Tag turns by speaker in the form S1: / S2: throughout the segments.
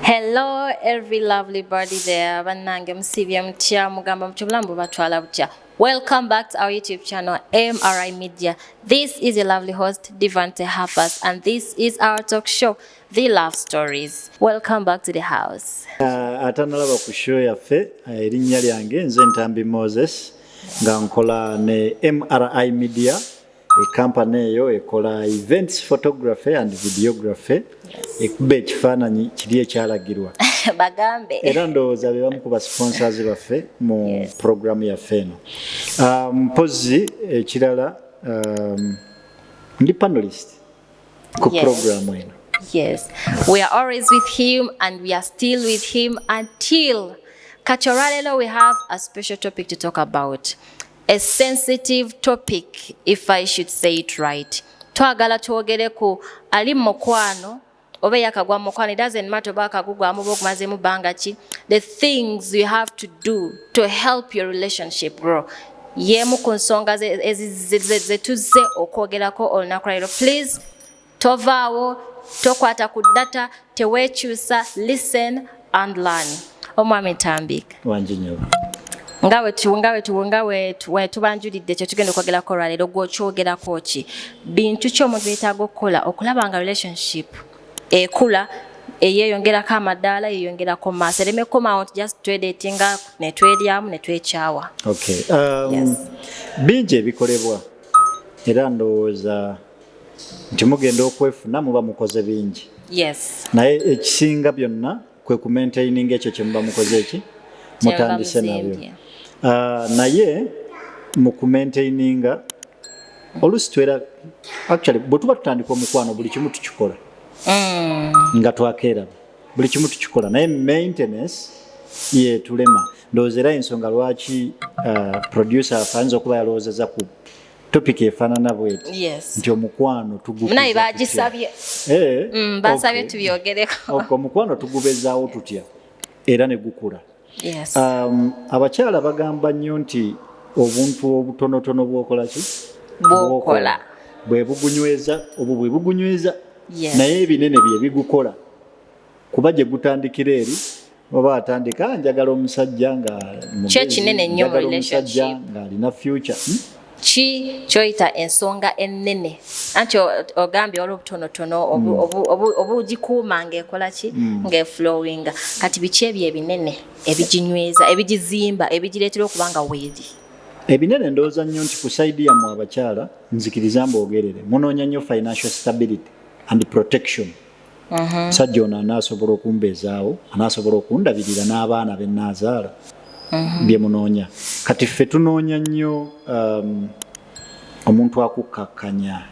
S1: Hello every lovely body there banange musibye mutya mugamba mutya obulamu bubatwala butya Welcome back to our YouTube channel, MRI Media. This is your lovely host, Divante Harpers, and this is our talk show, The Love Stories. Welcome back to the house. Uh, atanalaba
S2: ku show yaffe uh, erinnya lyange nze Ntambi Moses nga nkola ne MRI Media ekampani eyo ekola events photography and videography ekuba ekifaananyi kiri ekyalagirwa bagambe
S1: era ndowooza be
S2: bamu ku basponsors baffe mu programu yaffe eno ah, mpozi ekirala um, ndi panelist ku programu eno yes
S1: we are always with him and we are still with him until kati olwaleero we have a special topic to talk about a sensitive topic if i should say it right twagala twogere ku ali mukwano oba eyakagwa mukwano it doesn't matter oba akagugwamu oba okumazemu bbanga ki the things you have to do to help your relationship grow yeemu ku nsonga zetuzze okwogerako olunaku lwairo please Tovaawo, tokwata ku data, tewekyusa, listen and learn. Omwami Ntambika. Wangi nyo.
S2: Nga we tu nga we tu nga
S1: we tu we tubanjulidde kyo tugenda okwogera ko lwaleero gwokyogera ko ki bintu ki omuntu yetaaga okukola okulaba nga relationship ekula eyeyongerako amadaala yeyongerako maaso ereme kukomawo nti just twedetinga netweryamu netwekyawa okay.
S2: um, yes. bingi ebikolebwa era ndowooza nti mugenda okwefuna muba mukoze bingi yes. naye
S1: ekisinga
S2: byonna kwe kumaintaininga ekyo kyemuba mukoze eki mutandise nabyo uh, naye mu kumaintaininga oluusi twera actually bwe tuba tutandika omukwano buli kimu tukikola mm. nga twakeeraba buli kimu tukikola naye maintenance yetulema ndowooza era ensonga lwaki uh, producer ayinza okuba yalowoozeza ku topic efanana bweti yes. nti omukwano tugunaye
S1: bagisabye eh, mm, basabye okay. tubyogereko okay, omukwano tugubezawo
S2: tutya era ne gukula yes. um,
S1: abakyala
S2: bagamba nnyo nti obuntu obutonotono bwokola ki bwokola bwebugunyweza obwo bwebugunyweza yes. naye ebinene byebigukola kuba gye gutandikira eri oba atandika ah, njagala omusajja nga kyekinene nnyo
S1: omusajja ng'alina future
S2: hmm? ki
S1: kyoyita ensonga ennene anti ogambye wali obutonotono hmm. obugikuuma ngaekola ki hmm. ngaeflowinga kati biki ebyo ebinene ebiginyweza ebigizimba ebigireetera okuba nga weeri ebinene
S2: ndowooza nnyo nti ku saidi yammwe abakyala nzikiriza mbogerere munoonya nnyo financial stability and protection omusajja ono anaasobola okumbeezaawo anaasobola okundabirira n'abaana be naazaala mhm. bye munoonya kati ffe tunoonya nnyo um, omuntu akukkakkanya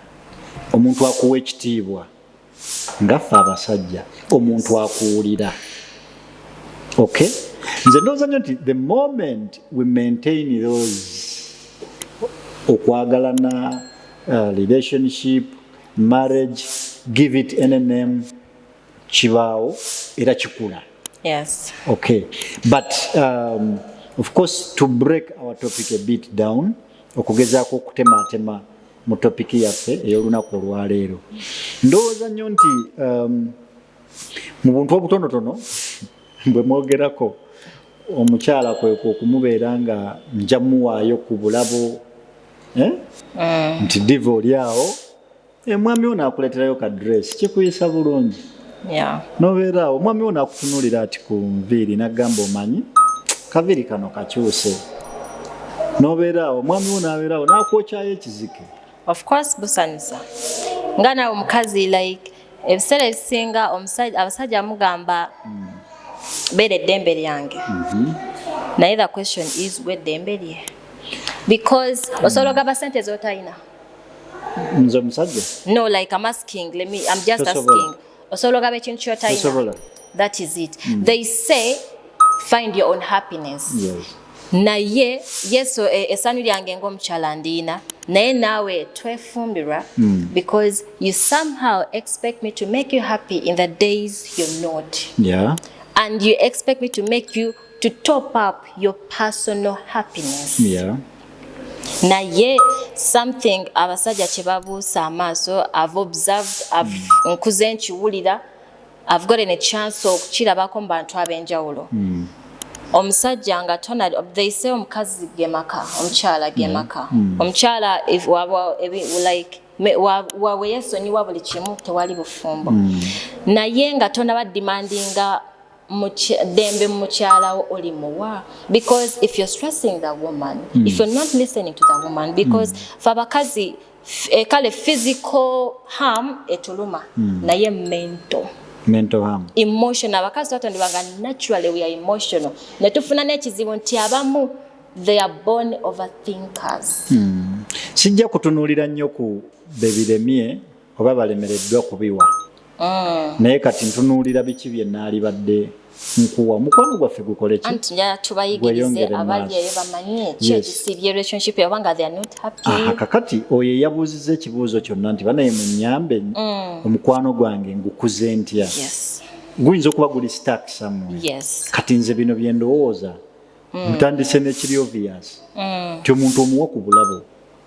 S2: omuntu akuwa ekitiibwa nga ffe abasajja omuntu akuwulira ok nze ndooza nnyo nti the moment we maintain those okwagalana uh, relationship marriage give it any name kibaawo era kikula yes.
S1: okay.
S2: but um, of course to break our topic a bit down okugezaako okutematema mu topiki yaffe ey'olunaku olwaleero ndowooza nnyo nti um, mu buntu obutonotono bwe mwogerako omukyala kwekwo okumubeera nga nja muwaayo ku bulabo eh? Eh. nti diva oli awo omwami eh, wo naakuleeterayo ka dress kikuyisa bulungi nobeera awo omwami wo naakutunuulira ati ku nviiri nagamba omanyi kaviiri kano kakyuse nobeera awo omwami wo nabeerawo naakwokyayo ekizike of course
S1: busanyusa nga nawe omukazi like ebiseera ebisinga abasajja mugamba mm. beera eddembe lyange mhm. naye the question is gwe eddembe lye because mm. osobola ogamba sente zotalina
S2: nze omusajja no like i'm
S1: asking let me i'm just asking osobola ogaba ekintu kyotalina that is it mm. they say find your own happiness yes.
S2: naye
S1: yesu e, esanyu lyange ngaomukyala ndiina naye naawe twefumbirwa mm. because you somehow expect me to make you happy in the days you're not yeah. and
S2: you expect
S1: me to make you to top up your personal happiness yeah.
S2: naye
S1: something abasajja kyebabuusa amaaso i've observed I've, mm. nkuze nkiwulira I've gotten a chance okukirabako mu bantu ab'enjawulo mm. omusajja nga tona they say omukazi gemaka omukyala gemaka mm. mm. omukyala like waweyesonyiwa buli kimu tewali bufumbo mm. naye nga tona badimandinga dembe mukyalawo oli muwa because if you're stressing the woman mm. if you're not listening to the woman because mm. fe abakazi e, kale physical harm etuluma mm. naye mental mental harm emotional abakazi twatondebwa nga naturally we are emotional ne tufuna n'ekizibu nti abamu they are born over thinkers mm.
S2: sijja kutunuulira nnyo ku bebiremye oba balemereddwa kubiwa Mm. naye kati ntunuulira biki bye naalibadde nkuwa omukwano gwaffe
S1: gukolekiweyongeremkakati oyo
S2: eyabuuziza ekibuuzo kyonna nti banaye munyambe mm. omukwano gwange ngukuze ntya guyinza okuba guli stak samu kati nze bino byendowooza mm. ntandise nekiri obvious ti omuntu omuwa ku bulabo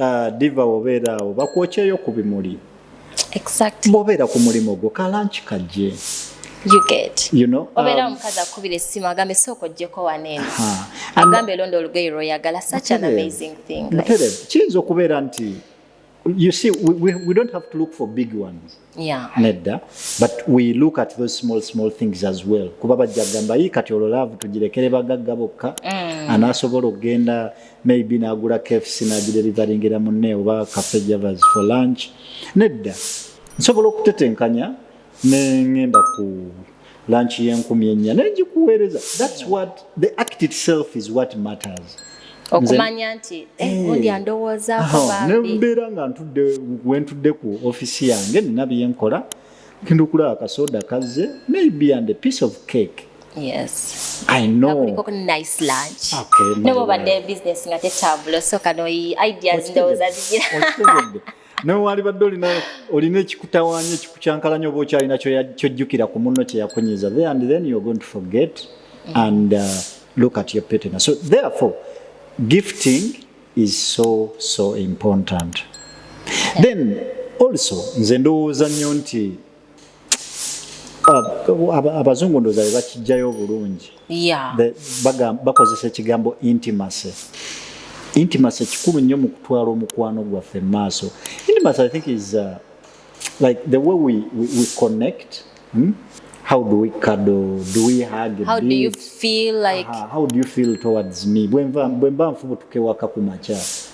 S2: Ah, diva wobeera awo bakwokyeyo ku bimuli exactly.
S1: bobeera ku mulimu
S2: gwo kalanki kajje You get.
S1: You know, obeera um, omukazi
S2: akubira
S1: essimu agambe sooka ojjeko waneeno agambe elonda olugoye lwoyagala such an amazing thing kiyinza okubeera
S2: nti you see we, we, we don't have to look for big ones yeah. nedda but we look at those small small things as well kuba bajja kugamba yi kati olwo laavu tugirekere bagagga bokka mm. anaasobola okugenda maybe n'agula kfc n'agirerivaringira munne oba cafe javers for lunch nedda nsobola okutetenkanya ne ŋŋenda ku lanchi yenkumi ennya naye ngikuweereza thats what the act itself is what matters okumanya
S1: nti eh, eh, gundi andowoozaonembeera nga ntudde
S2: wentudde ku ofisi yange nina byenkola genda okulaba kasoda kazze maybe and a piece of cake Yes. I know. Kuliko kuna nice lunch.
S1: Okay. Nebo bade business nga te tabulo so kano i ideas ndo za zijira. nawe
S2: walibadde olina olina ekikutawanya ekikucankalanya oba okyalina kyojjukira ku munno kyeyakunyiza there and then you're going to forget and uh, look at your petena so therefore gifting is so so important then also nze ndowooza nnyo nti abazungu ndoza bebakijjayo obulungi bakozesa ekigambo intimacy intimacy kikulu nnyo mu kutwala omukwano gwaffe mu maaso intimacy i think is uh, like the way we, we, we connect hmm? how do we cuddle do we hug how do you feel
S1: like uh -huh. how do you feel
S2: towards me bwemba nfubutuke waka ku makya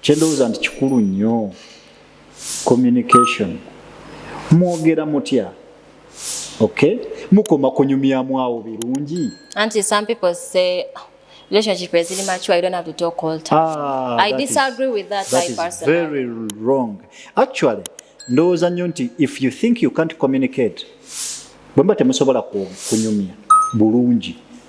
S2: kyendowooza nti kikulu nnyo communication mwogera mutya okay mukoma kunyumyamu awo birungi anti some people
S1: say relationship eziri mature you don't have to talk all time ah, i disagree is, with that, that is personally. very
S2: wrong actually ndowooza nnyo nti if you think you can't communicate bwemba temusobola kunyumya bulungi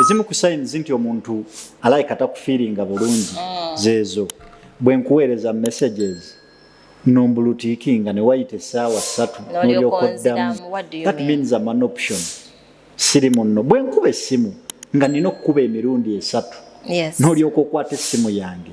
S2: ezimu ku signs nti omuntu alike atakufiiringa bulungi mm. zeezo bwe nkuweereza messages nombulutiikinga ne wayita essaawa ssatu nolyokoddamu that means am an option siri munno bwe nkuba essimu nga nina okukuba emirundi esatu nolyoka okwata essimu yange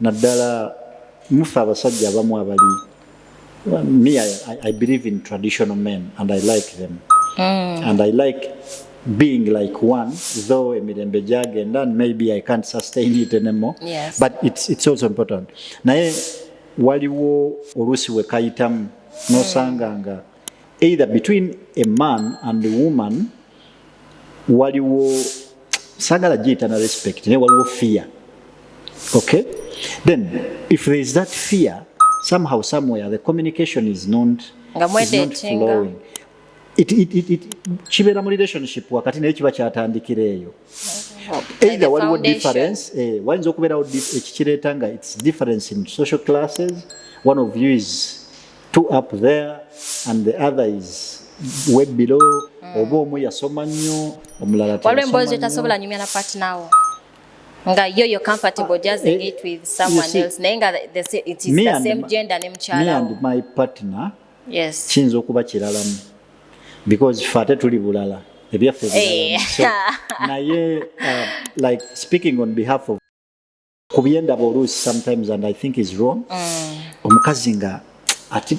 S2: naddala mufe abasajja abamu abali me I, I believe in traditional men and I like them mm. and I like being like one though emirembe gyagenda and maybe I can't sustain it anymore yes. but it's, it's
S1: also
S2: important naye waliwo oluusi wekayitamu nosanga nga either between a man and a woman waliwo sagala giyita na respect naye waliwo fear okay then if there is that fear somehow somewhere the communication is not, is not flowing kibeera mu relationship wakati naye kiba kyatandikira eyo either waliwo difference eh, wayinza okubeerawo ekikireeta nga its difference in social classes one of you is two up there and the other is way below mm. oba omu yasoma nnyo omulala waliwo emboozi etasobola
S1: nyumya na partner wo nga yo yo comfortable ah, just eh, it with someone see, else naye nga it is the same my, gender ne mukyala me and my partner
S2: yes kiyinza
S1: okuba kiralamu
S2: because fe ate tuli bulala ebyaffe eh. naye uh, like speaking on behalf of ku byendaba oluusi sometimes and i think is wrong mm. omukazi nga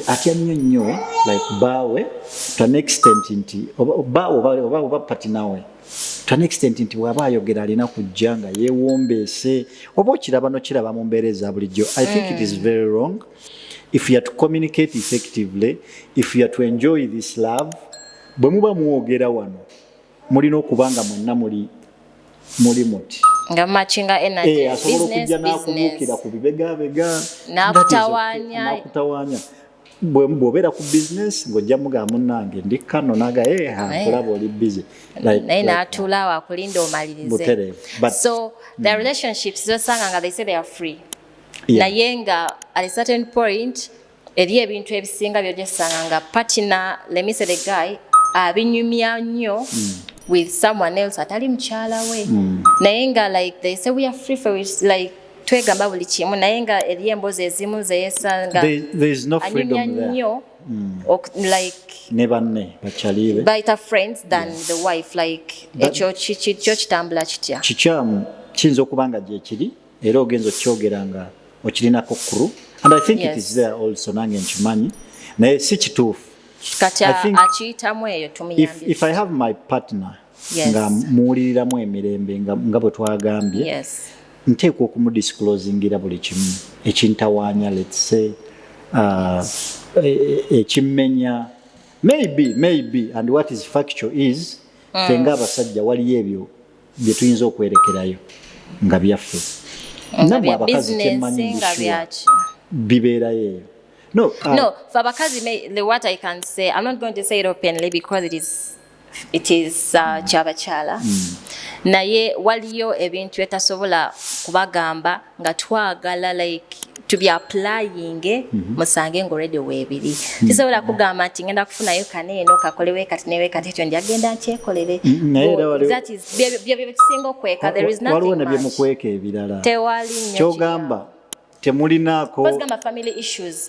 S2: atya nnyo nnyo like baawe to an extent nti baawe oba oba patinawe to an extent nti bw'aba ayogera alina kujja nga yeewombeese oba okiraba nokiraba mu mbeera eza bulijjo i think it is mm. very wrong if you are to communicate effectively if you are to enjoy this love bwe muba mwogera wano mulina okuba nga mwenna muli muli muti nga machinga
S1: energy eh, asobola okujja
S2: n'akubuukira ku bibegabega nakutawanya bw'obeera ku bizinesi ng'ojja mugamba munnange ndi kano naga eh, nkulaba oli bizi naye n'atuula
S1: awo akulinda omalirize so the mm. relationships zosanga nga they say they are free naye nga at a certain point Eriyo ebintu ebisinga byojesanga nga partner let me say the guy abinyumya nnyo mm. with someone else atali mukyala we mm. naye nga like they say we are free for it like twegamba buli kimu naye nga eriyo emboozi ezimu zeyesanga
S2: anyumya nnyo Mm.
S1: like ne banne
S2: bakyalibe bayita friends
S1: than yes. the wife like ekyo kitambula kitya kikyamu kiyinza
S2: okuba nga gyekiri era ogenza okyogera nga okirinako kuru and i think yes. it is there also nange nkimanyi naye si kituufu kati
S1: akiyitamu eyo tumuyambye if i have my
S2: partner yes. nga muwuliriramu emirembe nga, nga bwe twagambye yes. nteekwa okumudisclosingira buli kimu ekintawaanya let's say uh, e, e, ekimmenya e, maybe maybe and what is factual is mm. fenga abasajja waliyo ebyo bye tuyinza okwerekerayo nga byaffe namwe abakazi kyemmanyi ngisua bibeerayo eyo No, uh, no. For Bakazi,
S1: the what I can say, I'm not going to say it openly because it is it is uh, kyabachala mm. naye waliyo ebintu etasobola kubagamba nga twagala like tubyaplayinge mm -hmm. musange nga olredi weebiri mhm. kisobola kugamba nti ngenda kufunayo kana eno kakole wekati newekati ekyo njagenda nkyekolere mhm, byekisinga okweka waliwo nebyemukweka
S2: ebirala tewali kyogamba temulinaako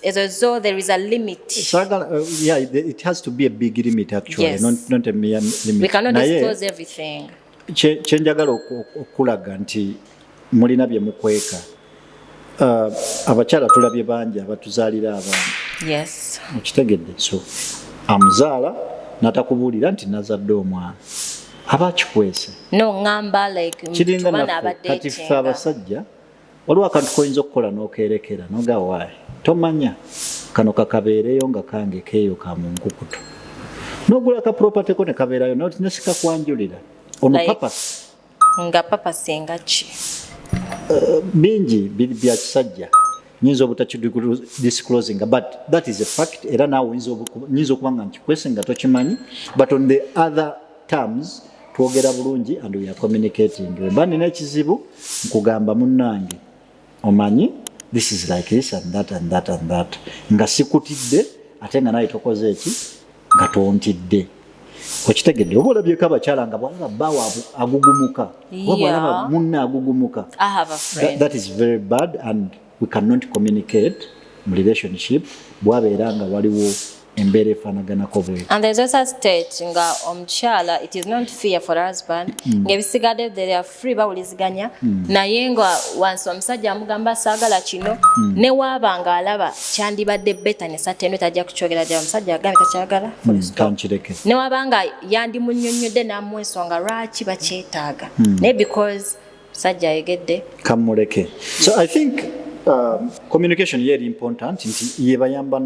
S1: ezo zo there is a limit sagala uh, yeah,
S2: it has to be a big limit actually yes. not, not a mere
S1: limit
S2: we cannot disclose
S1: everything kyenjagala
S2: okulaga nti mulina bye mukweka uh, abakyala tulabye bangi abatuzaalira abaana
S1: okitegedde so
S2: amuzaala natakubuulira nti nazadde omwana aba akikwese
S1: kiringa naffe kati
S2: ffe abasajja waliwo akantu koyinza okukola nokerekera noga waayi tomanya kano kakabeereyo nga kange keeyo ka mu nkukutu nogula ka property ko nekabeerayo nesikakwanjulira ono like, papa nga papa
S1: singa ki uh,
S2: bingi bya kisajja nyinza obutakidisclosinga but that is a fact era naawe nyinza okuba nga nkikwese nga tokimanyi but on the other terms twogera bulungi and we are communicating wemba nina ekizibu nkugamba munnange omanyi this is like this and that and that and that nga sikutidde ate nga naye tokoze eki nga tontidde okitegedde oba olabyeko abakyala nga bwalaba bawa agugumuka oba bwalaba munne agugumuka that is very bad and we can not communicate mu relationship bwabeera nga waliwo embeera efanaganako bwe and there is also a state
S1: nga omukyala it is not fear for husband mm. nga ebisigadde there are free bawuliziganya mm. naye nga wansi omusajja amugamba saagala kino mm. ne waaba nga alaba kyandibadde beta ne satendo tajja kukyogera ddala omusajja agambe takyagala mm. kankireke
S2: ne waaba nga
S1: yandimunyonnyodde n'amu ensonga lwaki bakyetaaga mm. naye because Sajja ayegedde. Kamuleke.
S2: So I think um, communication ye eri important nti yebayamba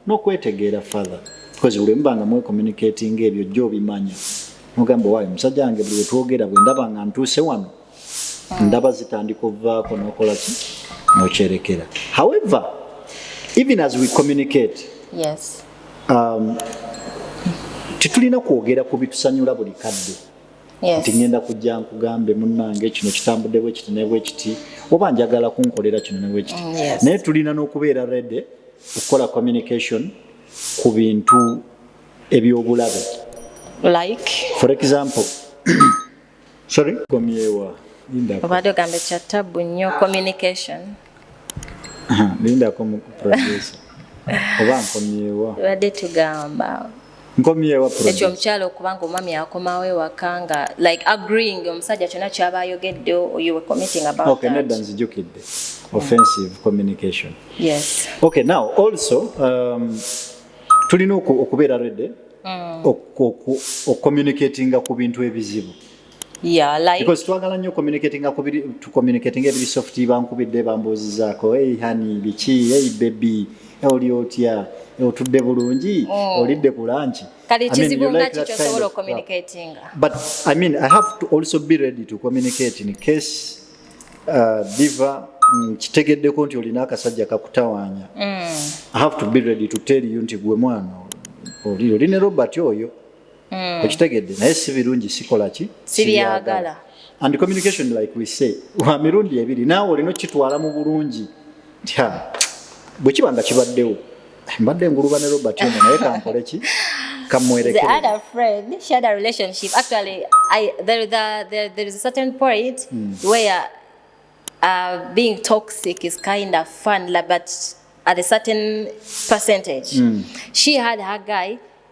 S2: n'okwetegeera father because buli mubanga mwe communicating ebyo jjo obimanya mugamba owaye omusajja wange buli wetwogera bwe ndaba nga ntuuse wano ndaba zitandika ovaako nokola ki nokyerekera however even as we communicate yes. um, tetulina kwogera ku bitusanyula buli kadde nti ŋŋenda kujja nkugambe munnange kino kitambudde bwe kiti ne bwe kiti oba njagala kunkolera kino ne bwe kiti mm, naye tulina n'okubeera rede okukola communication ku bintu eby'obulabe
S1: like for example
S2: sorry komyewa obadde ogamba
S1: ekyattabu nnyo communication
S2: lindako mu producer oba nkomyewa badde tugamba
S1: nkomyewa
S2: ekyo omukyalo
S1: okubanga omwami akomawo ewaka nga like agreeing omusajja kyona kyaba ayogedde you were committing about okay, that nedda nzijukidde
S2: offensive communication yes okay now also um, tulina okubeera rede mm. okucommunicatinga ku bintu ebizibu Yeah, like because twagala nnyo communicating ku biri to communicating ebiri soft bankubidde bambuuzizaako hey honey biki hey baby oli otya otudde bulungi mm. olidde ku lanki kale kizibu nga kikyo sobola
S1: communicating but i mean
S2: i have to also be ready to communicate in case uh, diva mm, kitegeddeko nti olina akasajja kakutawaanya mm. i have to be ready to tell you nti gwe mwana oli ne robert oyo mm. okitegedde naye si birungi sikola ki sibyagala
S1: and communication
S2: like we say wa mirundi ebiri naawe olina okukitwala mu bulungi bwe kiba nga kibaddewo mbadde nguluba ne robert ono naye kankole ki Uh,
S1: being toxic is kind of fun, but at a certain percentage. Mm. She had her guy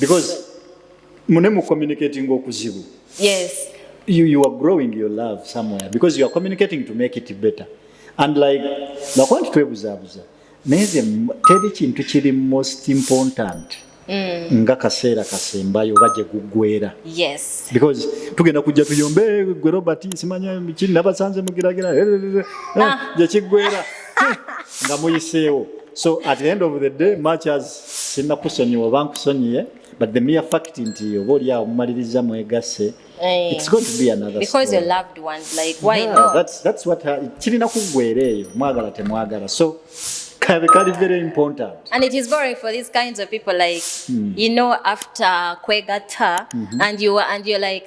S2: because mune mu communicating okuzibu yes you, you are growing your love somewhere because you are communicating to make it better and like bakuba nti twebuzabuza naye ze teri kintu kiri most important Mm. nga kaseera kasembayo oba gye guggwera yes. because tugenda kujja tuyombe gwe robert simanya kiri nabasanze mugiragira ah. gye kiggwera nga muyiseewo so at the end of the day much as sinna kusonyiwa oba nkusonyiye but the mere fact nti oba oli awo mumaliriza mwegasse eh. it's going to be another because your loved ones
S1: like
S2: why
S1: yeah, not that's that's what
S2: kirina kuggwera eyo mwagala temwagala so kabe kali very important and it is boring for
S1: these kinds of people like mm. you know after kwegatta mm -hmm. and you and you're like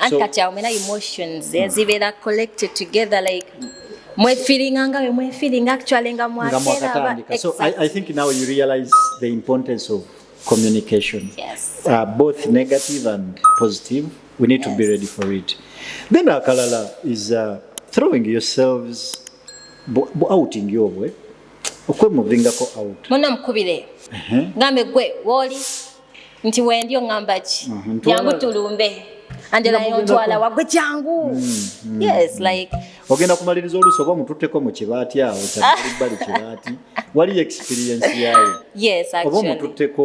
S1: anti kati awo mena emotions eh, zibeera collected together like mwefiringa nga bemwefiringa actually nga mwakera so I, i think
S2: now you realize the importance of communication yes. uh, both negative and positive we need yes. to be ready for it then akalala is uh, throwing yourselves outing yobwe okwemovingako out muna mukubire
S1: uh-huh. ngambe gwe woli nti wendi oŋamba ki mhm, jangu tulumbe anjelayontwala wagwe jangu mhm, mhm. ogenda
S2: kumaliriza oluusi oba omututteko mu kibaati awo kyalibbali kibaati waliyo experience yayo oba
S1: omututteko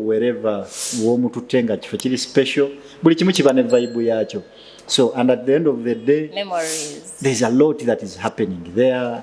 S2: wereva womututte nga kifo kiri special buli kimu kiba ne vaibu yakyo so and at the end of the day Memories. there's
S1: a lot that
S2: is happening there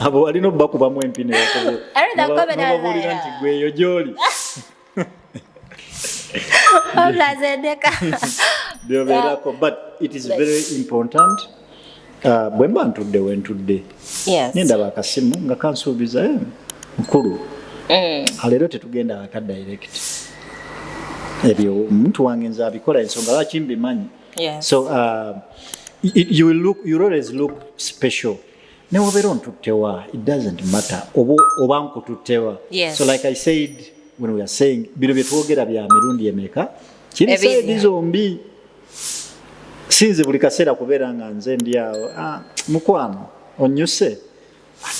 S2: abo walina obubakubamu empi nebabuulira
S1: nti gweyo
S2: gyoli byobeerako but it is very important uh, bwe mba ntudde wentudde nendaba
S1: akasimu nga
S2: kansuubiza eh, mukulu mm. aleero tetugenda waka direct ebyo omuntu wange nze abikola ensonga lwaki mbimanyi Yes. So uh, you will look, you always look special. Newabeera ontuttewa, it doesn't matter. Oba oba nkututtewa. Yes. So like I
S1: said when
S2: we are saying bino bye twogera bya mirundi emeka kiri saidi zombi sinze buli kaseera kubeera nga nze ndi awo ah, mukwano onyuse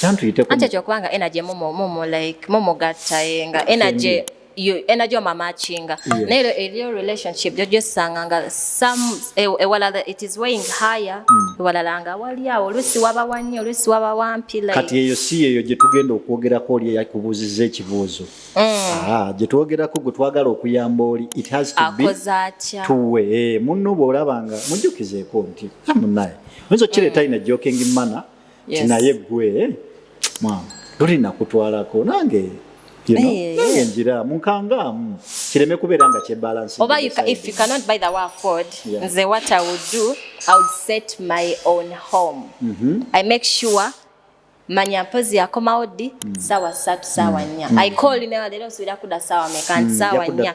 S2: kyantuyiteko anti ekyo kubanga energy
S1: mumu mumu like mumu gatta yenga energy you energy of matching naye yeah. eliyo relationship jo just sanga nga some ewala e, e it is weighing higher mm. ewala langa wali awo lusi waba wanyo lusi waba wampi like kati eyo si eyo je
S2: tugenda okwogera ko oli yakubuzize ekibuzo mm. ah je twogera ko gutwagala okuyamba oli it has to be akozacha tuwe eh, munno bolabanga mujukizeko nti amunaye mwezo chile mm. taina joking mana mm. yes. tinaye gwe mama luli nakutwalako nange you know, hey, nange yeah. njira munkangaamu kireme kubeera nga kyebalance oba you, if you cannot
S1: buy the way afford yeah. nze what i would do i would set my own home mm -hmm. i make sure manya mpozi yakomawo ddi mm. sawa satu sawa mm. nya mm. i call newa lero nsubira kuda sawa meka nti mm. sawa nya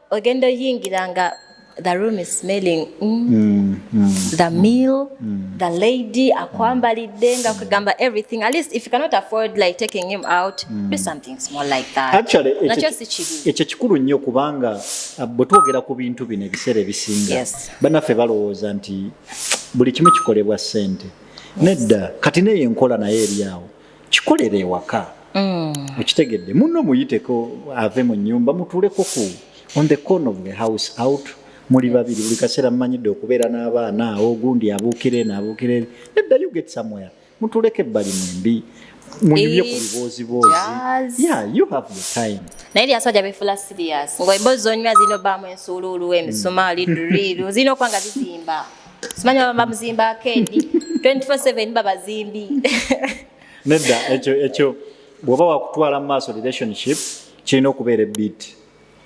S1: ogenda oyingira nga the room is smelling mm. Mm, mm, the meal mm. the lady akwambalidde nga kugamba everything at least if you cannot afford like taking him out mm. do something small like that actually nakyo si
S2: kibi ekyo kikulu nnyo kubanga uh, bwe twogera ku bintu bino ebiseera ebisinga yes. banaffe balowooza nti buli kimu kikolebwa ssente yes. nedda kati naye enkola naye eri awo kikolera ewaka mm. okitegedde muno muyiteko ave mu nyumba mutuleko ku on the corner of the house out muli babiri buli kaseera mumanyidde okubeera n'abaana awo ogundi abuukire naabuukire nedda you get somewhere mutuleko ebbali mwembi munyumye ku biboozi boozi yeah you have your time naye lya soja befula
S1: serious ngo embozi zonywa zino bamu ensuululu emisumaali mm. duriru zino kwanga zizimba simanyi baba bamuzimba akendi 24/7 babazimbi
S2: nedda ekyo ekyo bw'oba wakutwala mu maaso relationship kirina okubeera ebit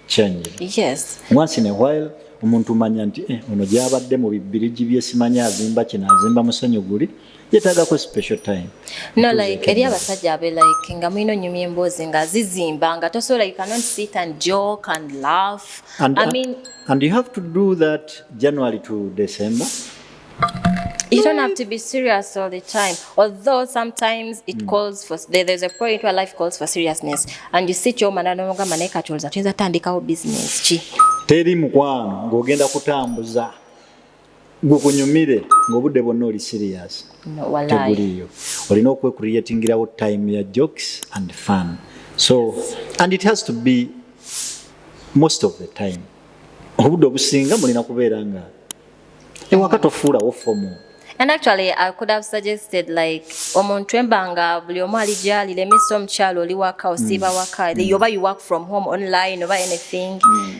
S2: change yes once in a while omuntu manya nti eh, ono gyabadde mu bibbirigi bye simanyi azimba kino azimba musenyu guli yetaaga ku special time no like eri
S1: abasajja abe like nga mulina onyumya emboozi nga zizimba nga tosobola you cannot sit and joke and laugh and, I mean, and
S2: you have to do that January to December
S1: You don't have to be serious all the time. Although sometimes it mm. calls for there, there's a point where life calls for seriousness and you sit your man and no gamba naye katoza tuyinza tandikawo business ki. Teri mukwano
S2: ng'ogenda kutambuza gwe kunyumire ng'obudde bwonna oli serious teguliiyo
S1: olina
S2: okwecreatingirawo time ya jokes and fun so and it has to be most of the time obudde obusinga mulina kubeera nga ewaka tofuulawo fomu And actually,
S1: I could have suggested like omuntu embanga buli omu ali gyali let me see omukyalo oli waka osiiba mm. waka mm. yoba you work from home online oba anything mm.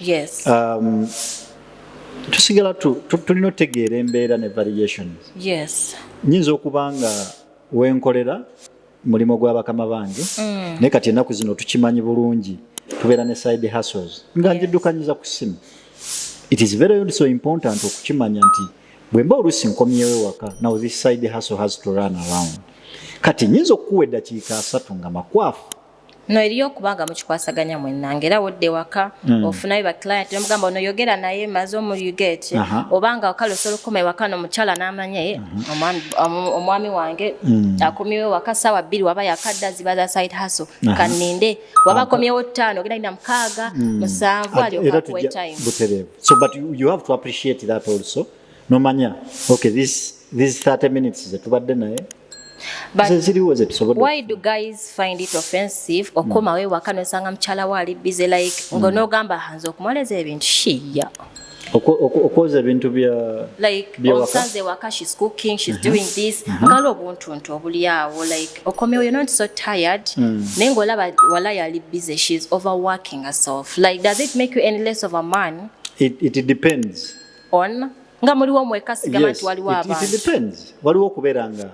S2: Yes.
S1: Um,
S2: tusigala tulina otegeera embeera ne variations yes
S1: nyinza okuba
S2: nga wenkolera mulimu gwa bakama bange mm. naye kati ennaku zino tukimanyi bulungi tubeera ne side hustles nga njiddukanyiza ku simu it is very also important okukimanya nti bwemba oluusi nkomyewo ewaka now this side hustle has to run around kati nyinza okukuwa eddakiika asatu nga makwafu no eriyo
S1: okubanga mukikwasaganya mwenna ngaera wodde waka mm. ofunayo baclient nomugamba ono yogera naye maze omuyuget uh -huh. obanga wakale osobola okukoma ewaka nomukyala namanya ye mm -hmm. omwami wange mm. akomiwe waka sawa bbiri waba yakadda ziba za side haso uh -huh. kaninde waba akomyewo ttaano ogenda ina mukaaga mm. musanvu aliokakuwetime so but you,
S2: you have to appreciate that also nomanya okay this these 30 minutes zetubadde naye
S1: zeziriwo zetusobodde why do guys find it offensive okomawo mm. ewaka nosanga mukyala wo ali busy like mm. ngonoogamba hanza okumwoleza ebintu shiya
S2: okwoza ebintu byaomusanze
S1: ewaka shes cooking shes mm-hmm. doing this mm-hmm. ngala obuntuntu obulyawo like okomewo you're not so tired mm. naye ngaolaba wala yali busy shes overworking herself like does it make you any less of a man it, it depends
S2: on
S1: nga muliwo mweka sigama yes, nti waliwo abantu it depends waliwo
S2: okubeera nga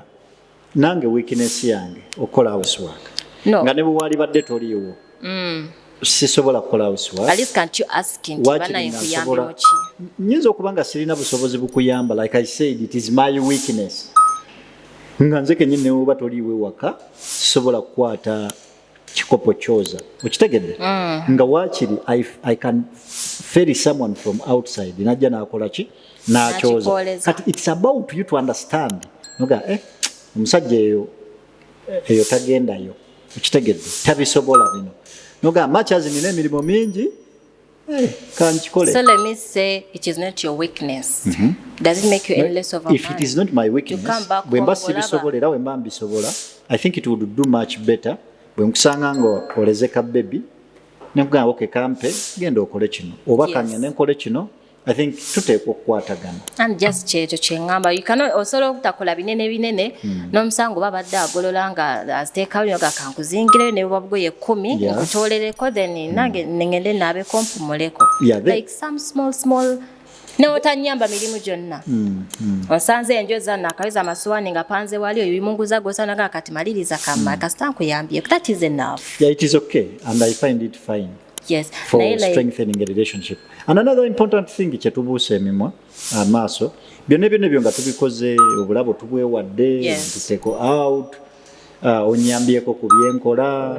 S2: nange weakness yange okukola housework no. nga ne bwe waalibadde toliiwo mm. sisobola kukola housework at least can't you
S1: ask him tibana yekuyambe muki nyinza okuba nga
S2: sirina busobozi bukuyamba like i said it is my weakness nga nze kenyini newoba toliiwo ewaka sisobola kukwata kikopo kyoza okitegedde mm. nga wakiri I, i can ferry someone from outside najja nakola ki nakyoza kati it's about you to understand noga eh omusajja eyo eyo tagendayo okitegedde tabisobola bino noga machazi nina emirimu mingi Eh, kankikole so let me
S1: say it is not your weakness mm -hmm. does it make you any less of a if man? it is not my weakness
S2: bwe mba sibisobola era bwe mba mbisobola i think it would do much better bwe nkusanga nga oleze ka bebi nekugamba oke kampe genda okole kino oba kanya nenkole kino i think tuteekwa okukwatagana and just kyekyo
S1: kyengamba you cannot osobola okutakola binene binene hmm. n'omusango babadde agolola nga aziteekawo nyoga kankuzingireyo ne bubabugoye ekkumi nkutolereko then hmm. nange nengende naabeko mpumuleko like some small small newotanyamba mirimu gyonna hmm, hmm. osanze enjo zanna akaweza amasuwani nga panze wali oyo bimunguza gosanaga kati maliriza kamma hmm. kasita nkuyambye that is enough yeah, it is okay
S2: and i find it fine yes. for like...
S1: strengthening
S2: a relationship and another important thing kyetubuusa emimwa amaaso uh, byonna ebyona ebyo nga tubikoze obulabo tubwewadde yes. tuteko out uh, onyambyeko ku byenkola